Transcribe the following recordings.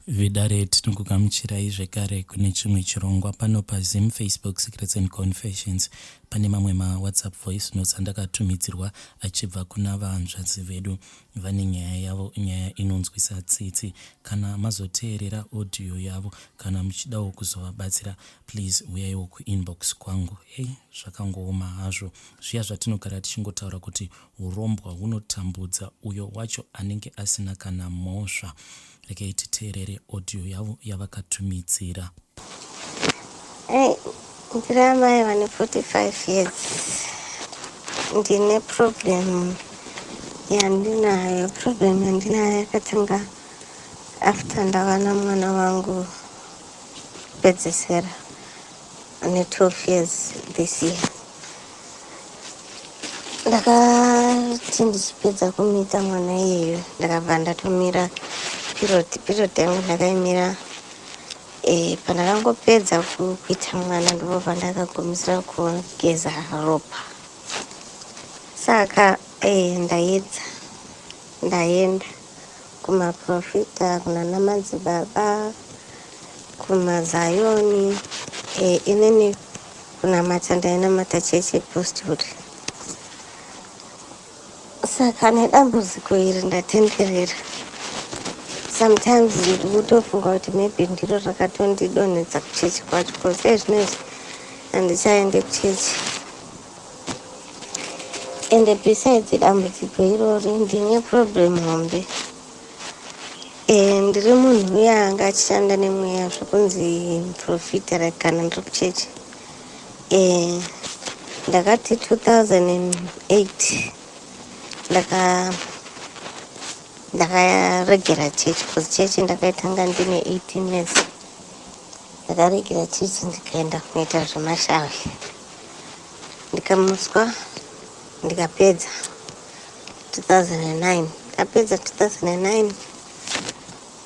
Vedare tinokugamuchirai zvekare kune chimwe chirongwa pano paZim Facebook Secrets and Confessions. Pane mamwe maWhatsApp voice notes andakatumidzirwa achibva kuna vahanzvadzi vedu vane nyaya yavo, nyaya inonzwisa tsitsi. Kana mazoteerera audio yavo, kana muchidawo kuzovabatsira, please huyaiwo kuinbox kwangu. Hey, zvakangooma hazvo zviya zvatinogara tichingotaura kuti Hurombwa hunotambudza uyo wacho anenge asina kana mhosva. Regai titeerere audio yavo yavakatumidzira. Hey, ndiri amai vane 45 years ndine problem yandinayo problem yandinayo yakatanga after ndavana mwana wangu pedzesera ane 12 years this year ndakati ndichipedza kumita mwana iyeyo ndakabva ndatomira period period yangu ndakaimira e, pandakangopedza kuita mwana ndipo pandakagumisira kugeza ropa saka e, ndaedza ndaenda kumaprofita kunana madzibaba kumazayoni e, inini kunamata ndainamata chechi yepostori saka nedambudziko iri ndatenderera sometimes ndikutofunga kuti maybe ndiro rakatondidonhedza kuchechi kwacho bcause ezvinezvi handichaende kuchechi ende besides dambudziko irori ndine problem hombe eh, ndiri munhu uye anga achishanda nemweya zvekunzi profita like kana ndiri kuchechi eh, ndakati 2008 ndaka ndakaregera chechi bcause chechi ndakaitanga ndine 18 years ndakaregera chechi ndikaenda kunoita zvemashavi ndikamuswa ndikapedza 2009 ndikapedza 2009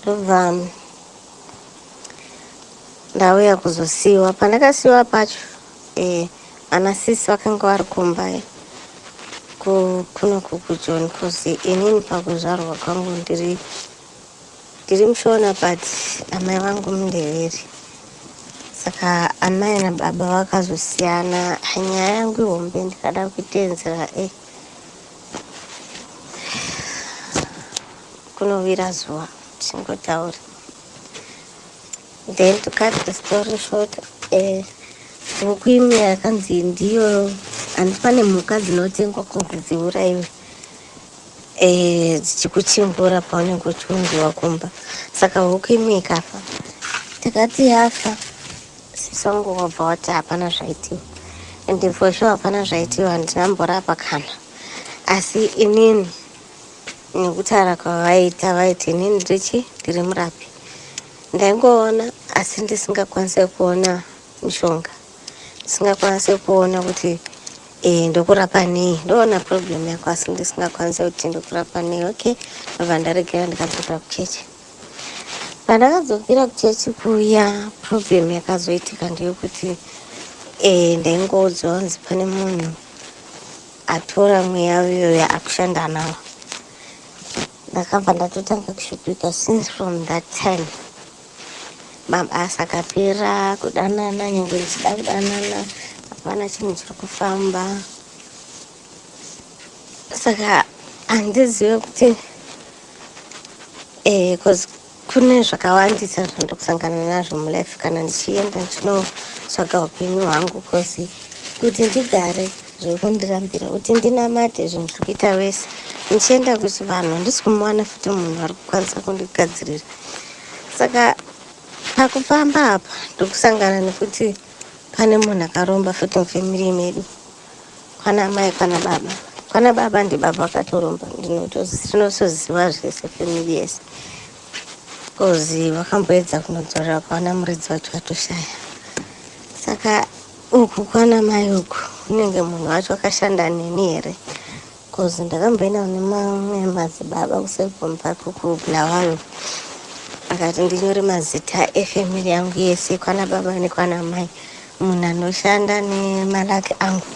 ndobva ndauya kuzosiiwa pandakasiiwa pacho eh, ana sisi vakanga vari kumba eh, kuno kukujoni kozi inini pakuzvarwa kwangu ndiri Ndiri mushona but amai vangu mundeveri saka amai nababa vakazosiyana nyaya yangu ihombe ndikada kuitenzera e eh. kunovira zuva tingotaura then to cut the story short eh, huku eh, imwe yakanzi ndiyo handi pane mhuka dzinotengwa kunzi dziuraiwe eh, dzichikuchimbura paunenge uchiunziwa kumba saka huku imwe ikafa takati yafa sisangu wabva wati hapana zvaitiwa and for sure hapana zvaitiwa handina mborapa kana asi inini nekutaura kwavaita vaiti inini ndirichi ndiri murapi ndaingoona asi ndisingakwanise kuona mishonga ndisingakwanise kuona kuti eh, ndokurapa nei ndoona problem yako asi ndisingakwanise kuti ndokurapa nei okay ndobva ndaregera ndikadzokera kuchechi pandakadzokera kuchechi kuya problem yakazoitika ndeyokuti eh, ndaingoudzwa kunzi pane munhu atora mweya uyoyo akushanda nawo ndakabva ndatotanga kushupika since from that time Mabasa akapera kudanana nyangwe ndichida kudanana hapana chinhu chiri kufamba saka handizive kuti eh, kune zvakawandisa zvandokusangana nazvo mulife kana ndichienda ndinotsvaga upenyu hwangu bcause kuti ndigare zviri kundirambira kuti ndinamate zvinhu zviri kuita wese ndichienda kuchivanhu handisi kumuwana futi munhu ari kukwanisa kundigadzirira saka pakufamba apa ndokusangana nekuti pane munhu akaromba futi mufamily medu kwana mai kwana baba kwana baba ndibaba vakatoromba ndinotoziva zvese family yese bcause vakamboedza kunodzora vakaona muridzi wacho vatoshaya saka uku kwana mai uku unenge munhu wacho akashanda neni here Cause ndakamboenda kune mamwe madzibaba kuSelbourne Park uku Bulawayo akati ndinyore mazita efamily yangu yese kwana baba nekwana mai munhu anoshanda nemalaki angu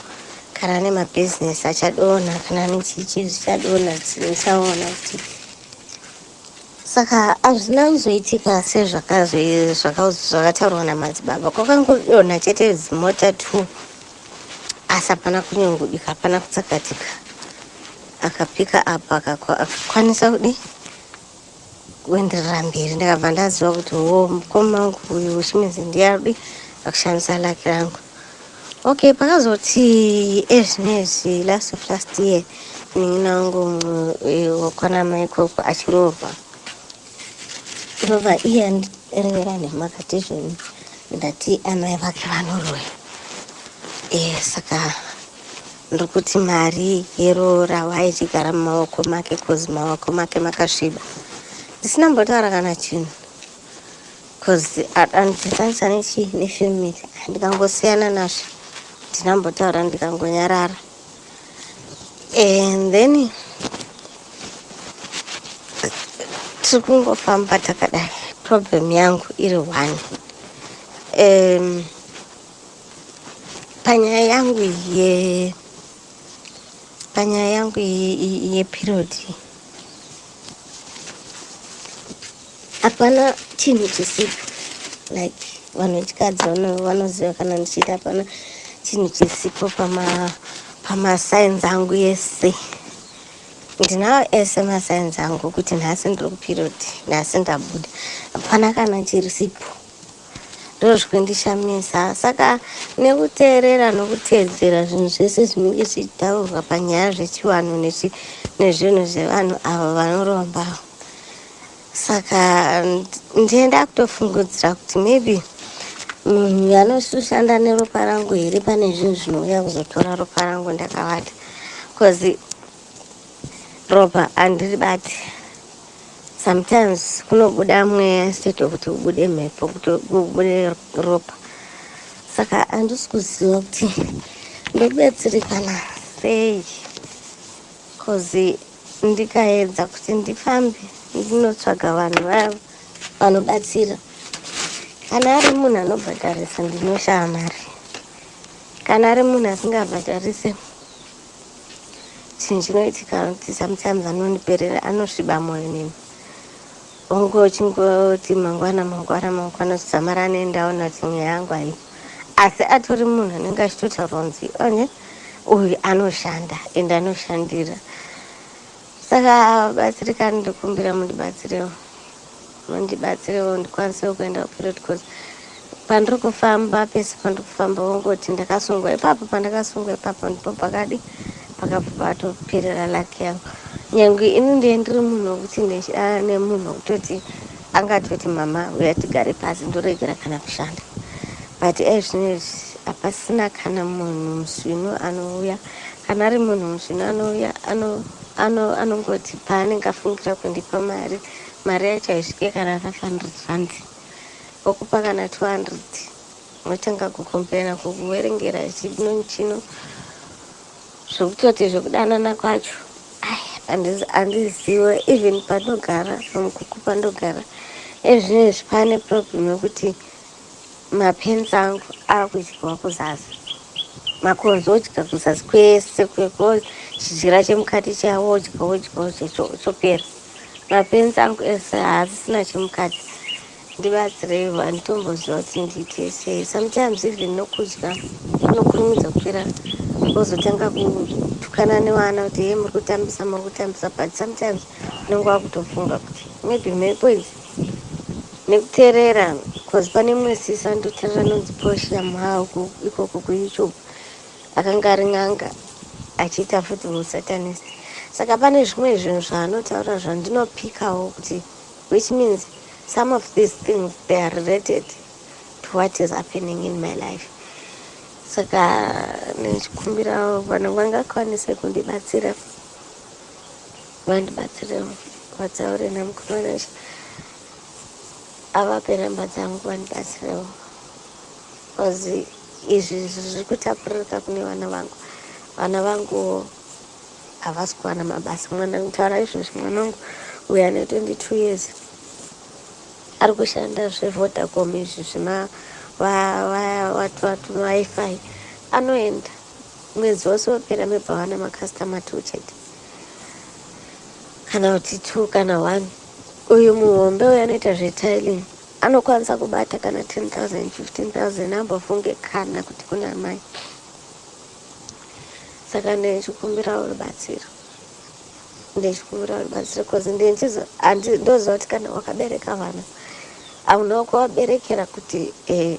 kana nemabhizinesi achadonha kana nechii chii zvichadonha tisaona kuti saka hazvina kuzoitika sezvakataurwa namadzibaba kwakangodonha chete zimota t asi hapana kunyungudika hapana kutsakatika akapika apo akakwanisa kudi kuenderera mberi ndakabva ndaziva kuti wo mukoma wangu uyu uchimenzi ndiyarudi akushandisa laki rangu Okay, pakazoti ezvinezvi last of last year munin'ina wangu eh, wakwanamai ikoko achiroorwa kurova iye andirevera nhema akati izvoni ndati amai vake vanoroya e, saka ndiri kuti mari yeroora waichigara mumaoko make kozi maoko make makasviba ndisina mbotaura kana chinhu Cause anditanisa nechi nefamily ndikangosiyana nazvo ndinambotaura ndikangonyarara and then tiri kungofamba takadai problem yangu iri one um, panyaya yangu ye panyaya yangu yeperiod ye, ye hapana chinhu chisipo like vanhu vechikadzi vanoziva kana ndichiita hapana chinhu chisipo pamasainzi angu yese ndinawo ese masainzi angu kuti nhasi ndiri kuperiod nhasi ndabuda hapana kana chirisipo ndozvikundishamisa saka nekuteerera nokuteedzera zvinhu zvese zvinenge zvichitaurwa panyaya zvechivanhu nezvinhu zvevanhu avo vanorombawo saka ndiye ndakutofungudzira kuti maybe munhu mm, anoshanda neropa rangu here pane zvinhu zvinouya kuzotora ropa rangu ndakavati bcause ropa handiri bati sometimes kunobuda mweya state wekuti ubude mhepo kuti ubude ropa saka handisi kuziva kuti ndobetserekana sei bcause Ndikaedza kuti ndifambe ndinotsvaga vanhu vavo vanobatsira. Kana ari munhu anobhadharisa ndinoshaya mari. Kana ari munhu asingabhadharise chinhu chinoitika kuti sometimes anondiperera anosviba moyo neni. Hongu uchingoti mangwana mangwana mangwana zvidzamara anoendawo nadzo nyaya yangu ayi asi atori munhu anenge achitotaura kunzi one uyu anoshanda ende anoshandira saka batsirikani ndikumbira mundibatsirewo mundibatsirewo ndikwanisewo kuenda kuperiod course Pandiri kufamba pese pandiri kufamba vongoti ndakasungwa ipapo pandakasungwa ipapo ndipo pakadi pakabva patoperera laki yangu nyange ini ndiye ndiri munhu wekuti ndechidana nemunhu wekutoti angatoti mama uya tigare pasi ndoregera kana kushanda but ezvinezvi hapasina kana munhu musvinu anouya kana ari munhu musvinu anouya anongoti paanenge afungira kundipa mari mari yacho haisvike kana 500 rands okupa kana 200 unotanga kukomplaina kukuverengera chino chino zvokutoti zvekudanana kwacho handiziwe even pandogara pamukuku pandogara ezvino izvi pane problem yekuti mapenzi angu akudyiwa kuzasi makonzo odya kuzasi kwese kweko chidyira chemukati chavo odya odya odya chopera Mapenzi angu ese haasisina chemukati ndibatsirei vanhu tomboziva kuti ndiite sei sometimes even nokudya unokurumidza kupera wozotanga kutukana nevana kuti ye muri kutambisa muri kutambisa but sometimes unenge wakutofunga kuti maybe mhepo idzi nekuterera bcause pane mumwe sisi anototerera anonzi portia mhauku ikoko kuyoutube Akanga ari n'anga achiita futi husatanist. Saka pane zvimwe zvinhu zvaanotaura zvandinopikawo kuti which means some of these things they are related to what is happening in my life. Saka ndichikumbirawo vanhu vangakwanise kundibatsira vandibatsire vataure namukomana avape namba dzangu vandibatsirewo. Cause izvi zvirikutapuririka kune vana vangu. Vana vangu havasi kuwana mabasa. Mwana nditaura izvozvi mwana wangu uyo ane 22 years ari kushanda zvevodacom izvi zvima wifi anoenda mwedzi wose wopera mebva wana macustomer two chete kana kuti two kana one uyu muhombe uyo anoita zvetiling anokwanisa kubata kana 10000 15000 ambofunge kana kuti kune amai saka ndichikumbirawo rubatsiro ndichikumbirawo rubatsiro bcause ndoziva kuti kana wakabereka vana hauna kuvaberekera kuti eh,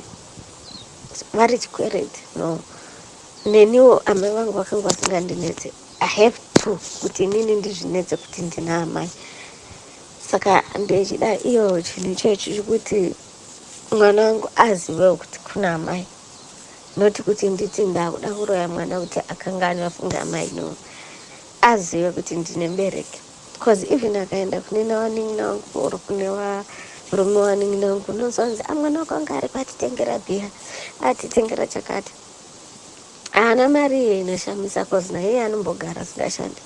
vari chikwereti no neniwo amai vangu vakanga vasingandinetse i have to kuti inini ndizvinetse kuti ndina amai saka ndechida iyo chinhu ichoyo chichikuti mwana wangu azivewo kuti kuna amai noti kuti nditi ndakuda kuroya mwana kuti akanga ani vafunge amai no azive kuti ndine mbereki bcause even akaenda kune nawanin'ina wangu or kune varume wanin'ina wangu unozonzi amwana ah, wako anga ari kwatitengera bhiya atitengera chakati Haana mari iyo inoshamisa cause naiye anombogara asingashandi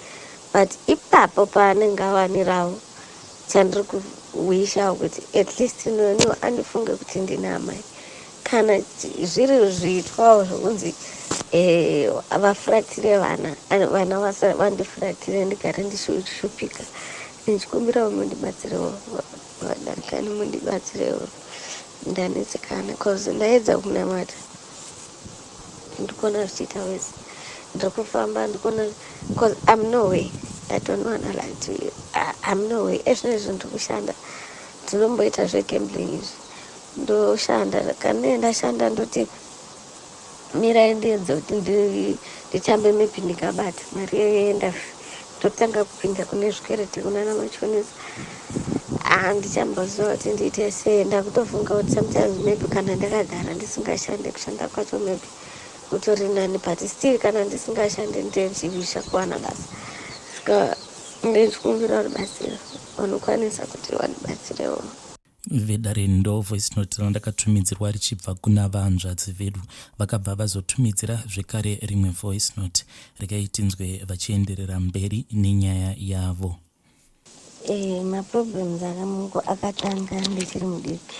but ipapo paanenge awanirawo chandiri kuwishawo kuti at least noniwo andifunge kuti ndina amai kana zviri zviitwawo zvokunzi eh, vafuratire vana vana vandifuratire ndigare ndishupika ndichikumbirawo mundibatsirewo Vadakani mundibatsirewo ndanetsekana cause ndaedza kunamata ndikuona zvichiita wese ndiri kufamba ndikuona cause am no way i don't wanna lie to you am no way ezvino izvo ndiri kushanda ndinomboita zvegambling izvi ndoshanda kana ndashanda ndoti Mirai ndiedze kuti ndichambe maybe ndikabata mari yoenda ndotanga kupinda kune zvikwereti kunana machonisa handichamboziva kuti ndiite sei ndakutofunga kuti sometimes maybe kana ndakagara ndisingashande kushanda kwacho maybe kutori nani but still kana ndisingashande ndezvivisha kuwana basa ska ndechikumbira rubatsiro vanokwanisa kuti vandibatsirewo vedare ndo voice note randakatumidzirwa richibva kuna vahanzvadzi vedu vakabva vazotumidzira zvekare rimwe voice note regai tinzwe vachienderera mberi nenyaya yavo Eh, maproblems anga mungu akatanga ndichiri mudiki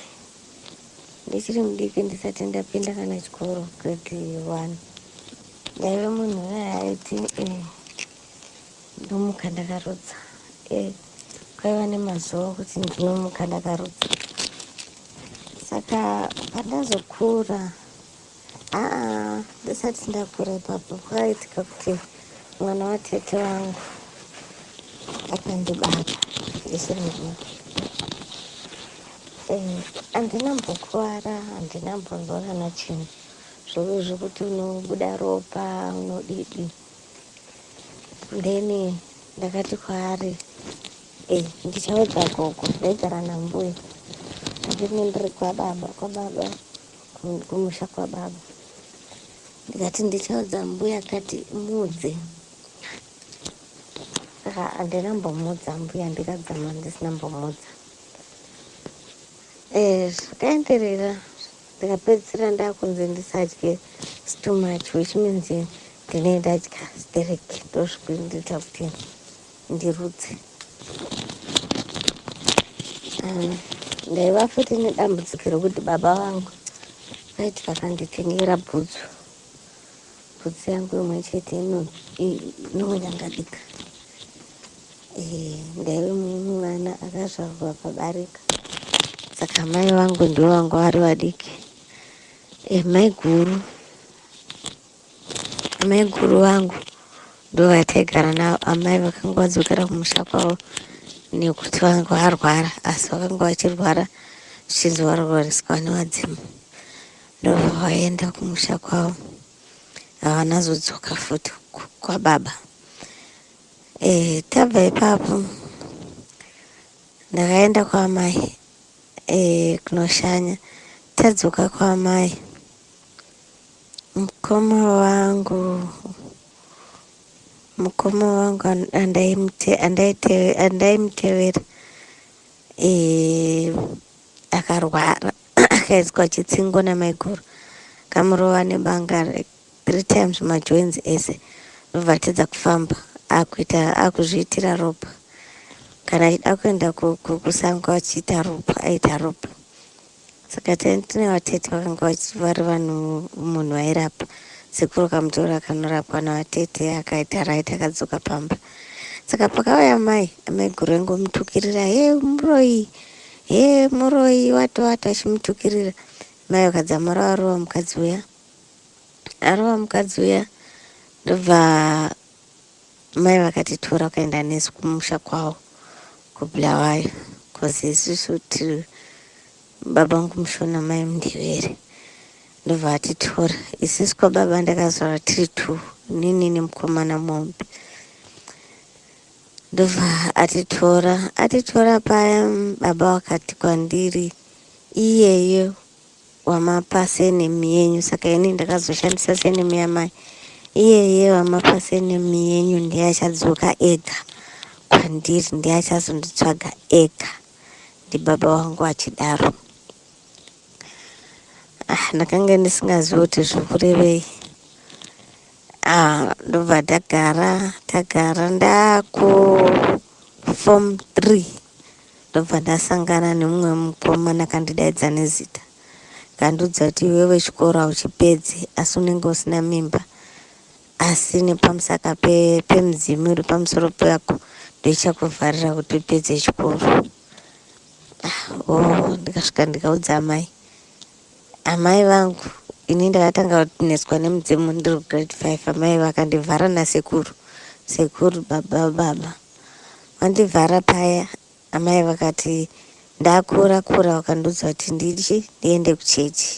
ndichiri mudiki ndisati ndapinda kana chikoro grade one ndaive munhu uye aiti eh, Ndomuka ndakarutsa eh, kwaiva nemazuva okuti ndinomuka ndakarutsa saka pandazokura aa ndisati ndakura ipapo kwaitika kuti mwana watete wangu akandibata ndisiri mudiki eh, handina mbokuvara handina mbonzwa kana chinhu zvokuti unobuda ropa unodidi then ndakati kwaari eh, ndichaudza gogo ndaigara nambuya ndine ndiri kwababa kwababa kumusha kwababa ndikati ndichaudza mbuya kati mudze saka handina mbomudza mbuya ndikadzama ndisina mbomudza eh, zvakaenderera Ndakapedzisira ndakunzi ndisadye too much which means ndine ndadya sterek ndozvikundiita kuti ndirutse um, ndaiva futi nedambudziko rekuti baba vangu vaiti vakanditengera bhutsu Bhutsu yangu imwe chete inonyangadika. Eh, ndaive mumwe mwana akazvarwa pabarika, saka mai vangu ndivo vanga vari vadiki. Eh, mai guru amai guru vangu ndovataigara navo. Amai vakanga vadzokera kumusha kwavo nekuti vanga varwara, asi vakanga vachirwara zvichinzi varwariswa nevadzimu. Ndobva vaenda kumusha kwavo havana zodzoka futi kwababa e, tabva ipapo ndakaenda kwaamai e, kunoshanya tadzoka kwaamai mukoma wangu mukoma wangu andaimutevera akarwara akaiswa chitsingo namaiguru kamurova nebanga like three times majoins ese ndobva atedza kufamba akuita akuzviitira ropa kana achida kuenda kusango achiita ropa aita ropa saka tine vatete vakanga vari vanhu munhu airapa sekuru kamutora kanorapwa navatete akaita right akadzoka pamba saka pakauya mai amaiguru engomutukirira he muroyi Hee muroyi watowata achimutukirira mai vakadzamara varova mukadzi uya arova mukadzi uya ndobva mai vakati tora ukaenda nesu kumusha kwavo kubulawayo bcause isusu tiri baba vangu mushona mai mundevere ndobva atitora isusu kwababa ndakazvara tiri two nini nemukomana mombe Ndobva atitora atitora paya baba wakati kwandiri iyeye wamapa senemu yenyu saka ini ndakazoshandisa senemu yamai iyeye wamapa senemu yenyu ndiye achadzoka ega kwandiri ndiye achazonditsvaga ega ndibaba wangu achidaro ah, ndakange ndisingazivi kuti zvikurevei Ah, ndobva tagara tagara ndaku form 3 ndobva ndasangana nemumwe mukomana kandidaidza nezita kandiudza kuti iwewe chikoro hauchipedzi asi unenge usina mimba asi nepamusaka pemudzimu uri pamusoro pako ndoichakuvharira kuti upedze chikoro ah, oh, ndikasvika ndikaudza amai Amai vangu ini ndakatanga kunetswa nemudzimu ndiri grade five amai vakandivhara nasekuru sekuru baba baba vandivhara paya amai vakati ndakura kura vakandiudza kuti ndichi ndiende kuchechi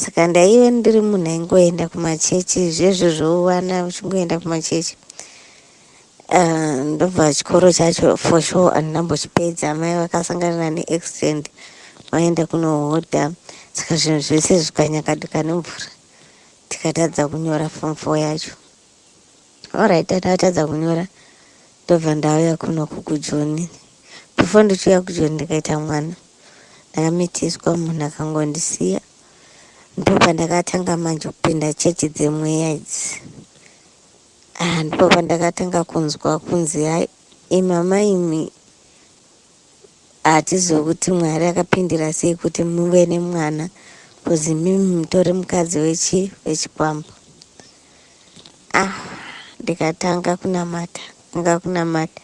saka ndaive ndiri munhu aingoenda kumachechi zvezvo zvowana uchingoenda kumachechi Ah, ndobva chikoro chacho for sure handinambochipedza mai vakasangana neaccident vaenda kunohodha saka zvinhu zvese zvikanyakadika nemvura tikatadza kunyora form four yacho orit tatadza kunyora ndobva ndauya kuno kukujoni before ndichiuya kujoni ndikaita mwana ndakamitiswa munhu akangondisiya ndobva ndakatanga manje kupinda chechi dzemweya idzi Ah, ndipo pandakatanga kunzwa kunzi hai imi amai imi hatizive kuti mwari akapindira sei kuti muve nemwana kuzi mimi mutori mukadzi wechi wechikwambo ah ndikatanga kunamata anga kunamata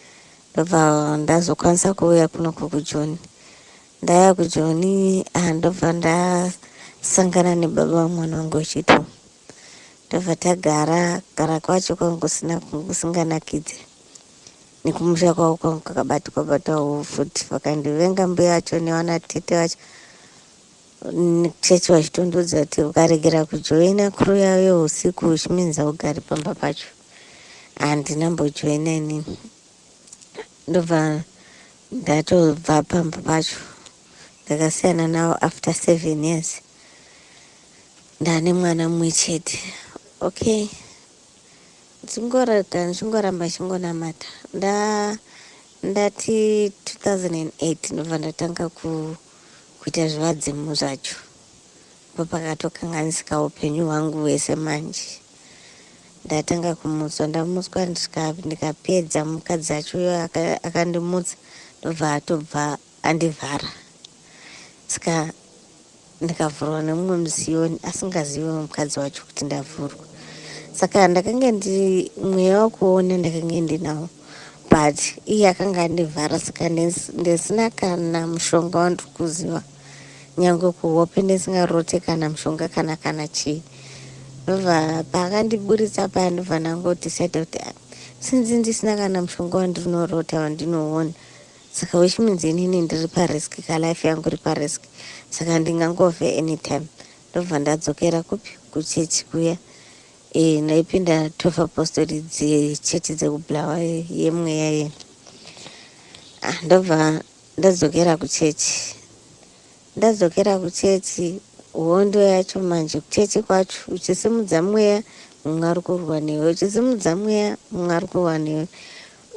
ndobva ndazokwanisa kuuya kuno kukujoni ndaya kujoni ah, ndobva ndasangana nebaba vamwana wangu wechitumu Tobva tagara gara kwacho kwanga kusina kunge kusinganakidze nekumusha kwavo kwanga kwakabatwa batwawo futi vakandivenga mbuya vacho newana tete vacho chechi vachitondudza kuti ukaregera kujoina kuru yavo yeusiku uchiminza ugari pamba pacho handina mbojoina inini ndobva ndatobva pamba pacho ndakasiyana navo after seven years Ndane mwana mumwe chete. Okay. Ndingorata ndingoramba chingonamata. Nda ndati 2008 ndobva ndatanga ku kuita zvivadzimu zvacho. Papakatokanganisika upenyu hwangu hwese manje. Ndatanga kumutswa ndamutswa ndikapedza mukadzi acho uyo akandimutsa ndobva atobva andivhara. Ska ndikavhurwa nemumwe muziyoni asingazive mukadzi wacho kuti ndavhurwa saka ndakange ndi mweya wakuona ndakange ndinawo but iye akanga andivhara saka ndisina kana mushonga wandiri kuziva nyange kuhope ndisingarote kana mushonga kana kana chii ndobva paakandiburitsa paya ndobva ndangoti saida kuti ah, sinzi ndisina kana mushonga wandirinorota wandinoona saka which means inini ndiri parisk ka life yangu iri parisk saka ndingangove anytime ndobva ndadzokera kupi kuchechi kuya e, ndaipinda twelve apostoli dzechechi dzekublawa yemweya ye ah, ndobva ndadzokera kuchechi ndadzokera kuchechi hondo yacho manje kuchechi kwacho uchisimudza mweya mumwe ari kurwa newe uchisimudza mweya mumwe ari kurwa newe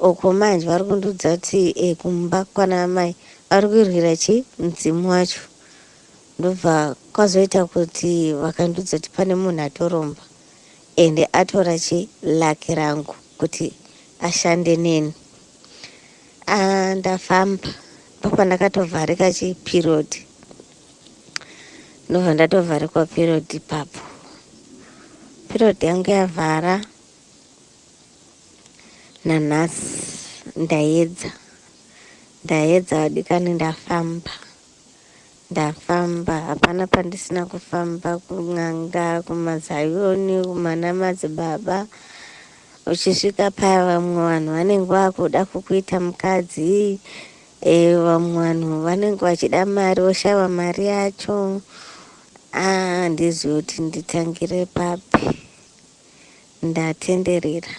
Uko manje vari kundiudza kuti e, kumba kwana amai vari kuirwira chi mudzimu wacho ndobva kwazoita kuti vakandiudza kuti pane munhu atoromba ende atora chi laki rangu kuti ashande neni a ah, ndafamba ndopandakatovharika chi period ndobva ndatovharikwa period ipapo period yangu yavhara nanhasi ndaedza ndaedza vadikani ndafamba ndafamba hapana pandisina kufamba kun'anga kumazayoni kumanamadzi baba uchisvika paya vamwe vanhu vanenge vakuda kukuita mukadzi e, vamwe vanhu vanenge vachida mari voshava mari yacho andizivi ah, kuti nditangire papi Ndatenderera.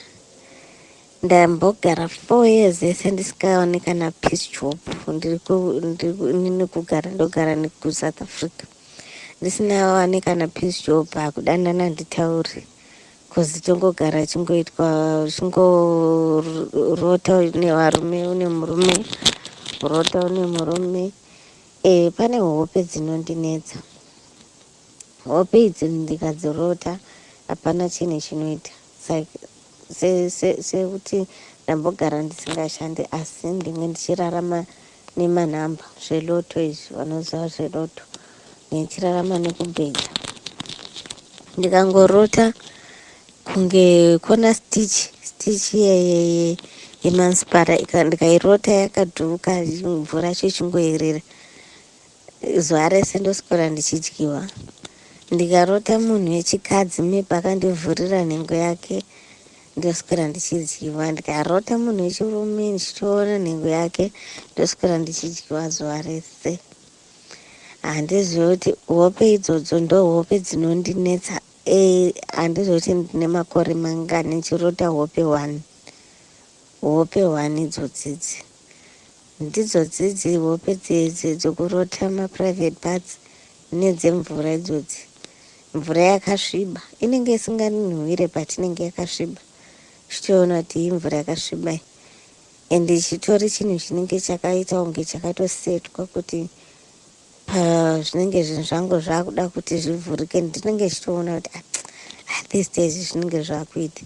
Ndambogara four years yese ndisikaone kana peace job. Ndiri kugara ndogara nekusouth africa ndisina wane kana peace job hakudanana nditaure bcoz tongogara chingoitwa chingorota nevarume une murume rota une murume e, pane hope dzinondinetsa Hope idzo ndikadzirota hapana chinhu chinoita like sekuti ndambogara ndisingashande asi ndinge ndichirarama nemanhamba zveloto izvi vanoziva zveloto ndichirarama nekubhedha ndikangorota kunge kona stitch stitch yemanspara ndikairota yakaduka mvura cho chingoerera zuva rese ndoswera ndichidyiwa ndikarota munhu wechikadzi mepe akandivhurira nhengo yake ndoswera ndichidyiwa ndikarota munhu wechirume ndichitoona nhengo yake ndoswera ndichidyiwa zuva rese handizivi kuti hope idzodzo ndo hope dzinondinetsa e handizivi kuti ndine makore mangani ndichirota hope one hope one idzodzidzi Ndidzo dzidzi hope dzedze dzokurota ma private parts nedze mvura idzodzi. Mvura yakasviba inenge isinganhuwire but inenge yakasviba uchitoona kuti iyi mvura yakasviba iyi and chitori chinhu chinenge chakaita kunge chakatosetwa kuti pazvinenge zvinhu zvangu zvakuda kuti zvivhurike ndinenge chitoona kuti ah, ah, these days zvinenge zvakuita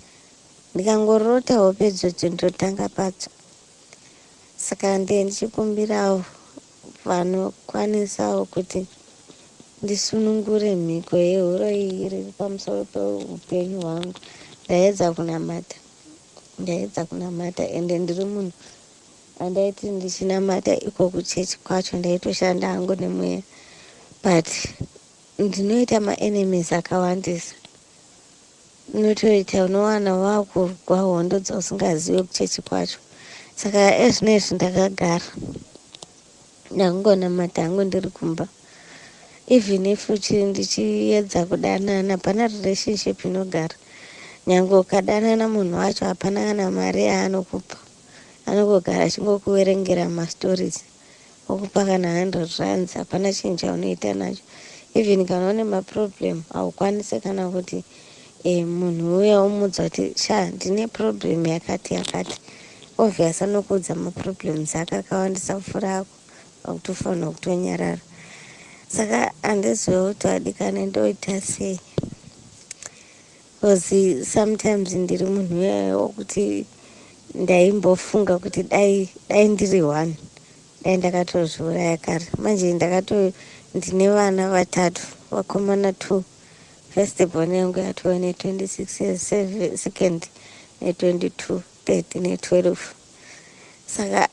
Ndikangorota hope idzodzo ndotanga padzo saka ndiye ndichikumbirawo vanokwanisawo kuti ndisunungure mhiko yehuroyi iri pamusoro peupenyu hwangu ndaedza kunamata ndaedza kunamata ende ndiri munhu andaiti ndichinamata iko kuchechi kwacho ndaitoshanda hangu nemweya but ndinoita maenemies akawandisa Unotoita unowana wakurwa hondo dzausingazive kuchechi kwacho saka ezvinezvi ndakagara ndakungonamata hangu ndiri kumba even if ndichiedza kudanana pana relationship inogara nyange ukadanana munhu wacho hapana kana mari yaanokupa anogogara achingokuverengera mastories okupa kana 100 rands hapana chinhu chaunoita nacho even kana une maproblem haukwanise kana kuti e, munhu uya umudza kuti sha ndine problem yakati yakati obvious anokuudza maproblems ake akawandisa kufura ako akutofanira kutonyarara saka handizive kuti adikane ndoita sei Coz sometimes ndiri munhu uyaya wokuti ndaimbofunga kuti dai dai ndiri one dai ndakatozviuraya kare manje ndakato ndine vana vatatu vakomana two first born yangu yatove ne 26 years seve- second ne 22 third ne 12 saka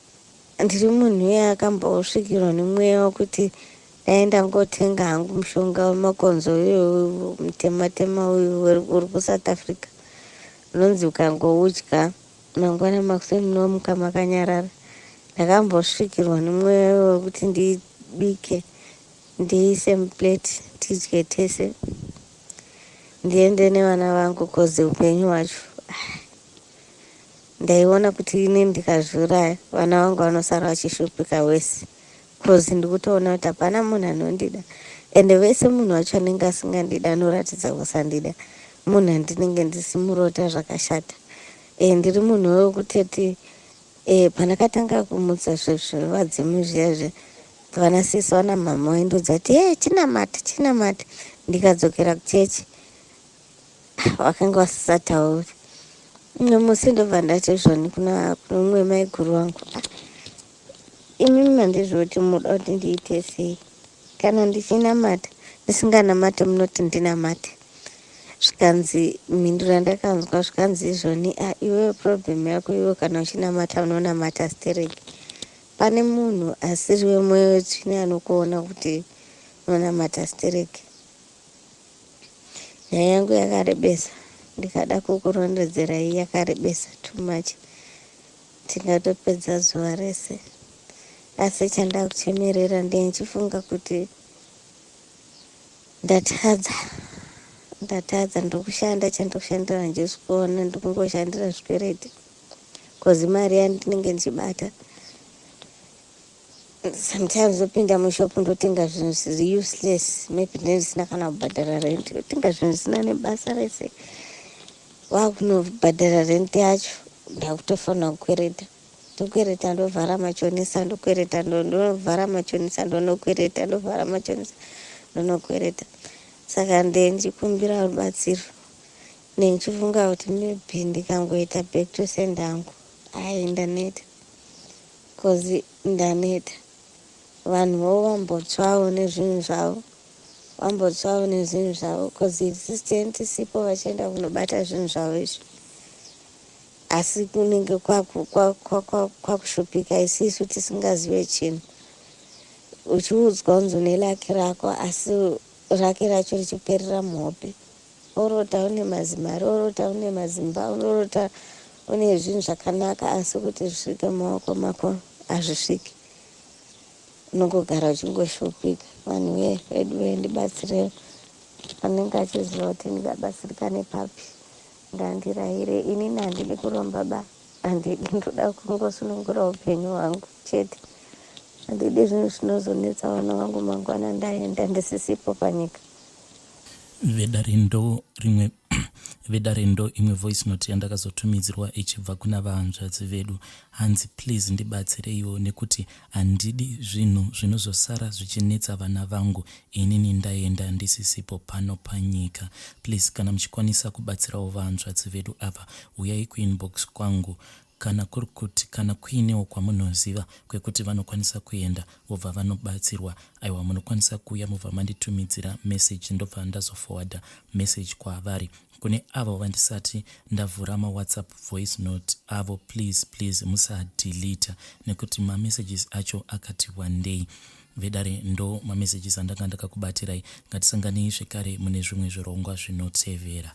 ndiri munhu uye akambosvikirwa nemweya wokuti Dai ndangotenga hangu mushonga wemakonzo uyo mutema tema uyu uri kuSouth Africa unonzi ukangoudya mangwana makuseni unomuka makanyarara. Ndakambosvikirwa nemweya wekuti ndibike ndiise muplate tidye tese ndiende nevana vangu kozi upenyu hwacho ndaiona kuti ini ndikazviuraya vana vangu vanosara vachishupika wese Coz ndikutoona kuti hapana munhu anondida ende vese munhu wacho anenge asingandidi anoratidza kusandida munhu andinenge ndisimurota zvakashata e, ndiri munhu wekutoti e, pandakatanga kumutsa zvevadzimu zviya zve vana sisi vana mhama waindodza kuti e chinamati chinamati ndikadzokera kuchechi vakanga vasisatauri umwe musi ndobva ndati zvoni kuna umwe maiguru wangu Imi mandiziva kuti munoda kuti ndiite sei. Kana ndichinamata ndisinganamate munoti ndinamate. Zvikanzi mhindu randakanzwa zvikanzi izvoni a ah, iwewe problem yako iwe kana uchinamata unonamata stereki. Pane munhu asiri wemoyo wetsvine anokuona kuti unonamata stereki. Nyaya yangu yakarebesa ndikada kukurondedzerai yakarebesa too much. Tingatopedza zuva rese asi chandakuchemerera ndichifunga kuti ndatadza ndatadza ndokushanda chandokushandira handisi kuona ndikungoshandira zvikwereti kozi mari yandinenge ndichibata sometimes ndopinda mushop ndotenga zvinhu zviri useless maybe ndine zvisina kana kubhadhara rent ndotenga zvinhu zvisina nebasa rese waakunobhadhara rent yacho ndakutofanira kukwereta ndokwereta ndovhara machonisa ndokwereta ndovhara machonisa ndonokwereta ndovhara machonisa ndonokwereta saka ndenjikumbira rubatsiro nenchifunga kuti maybe ndikangoita back to send angu ayi ndaneta Coz ndaneta. Vanhu vo vambotswawo nezvinhu zvavo. Vambotswawo nezvinhu zvavo coz existent tisipo vachienda kunobata zvinhu zvavo izvi. Asi kunenge kwakushupika isisu tisingazive chinhu. Uchiudzwa kunzi une lucky rako asi rake racho richiperera muhope. Unorota une mazimari, unorota une mazimba, unorota une zvinhu zvakanaka asi kuti zvisvike mumaoko mako hazvisviki. Unongogara uchingoshupika. Vanhu vee vedu vee ndibatsirewo. Anenge achiziva kuti ndingabatsirikane papi. Ngandirayire ini nandidi kuromba ba. Handidi ndoda kungosunungura upenyu hwangu chete. Handidi zvinhu zvinozonetsa vana vangu mangwana ndaenda ndisisipo panyika. vedare ndo rimwe vedare ndo imwe voice note yandakazotumidzirwa ichibva kuna vahanzvadzi vedu hanzi please ndibatsireiwo nekuti handidi zvinhu zvinozosara zvichinetsa vana vangu inini ndaenda ndisisipo pano panyika please kana muchikwanisa kubatsirawo vahanzvadzi vedu ava huyai kuinbox kwangu Kana kuri kuti kana kuinewo kwamunoziva kwekuti vanokwanisa kuenda vobva vanobatsirwa, aiwa munokwanisa kuuya mobva manditumidzira message ndobva ndazoforwarder message kwavari. Kune avo vandisati ndavhura mawhatsapp voice note avo please please musadeleter nekuti mamessages acho akati wandei. Vedare ndo mamessages andanga ndakakubatirai, ngatisanganei zvekare mune zvimwe zvirongwa zvinotevera.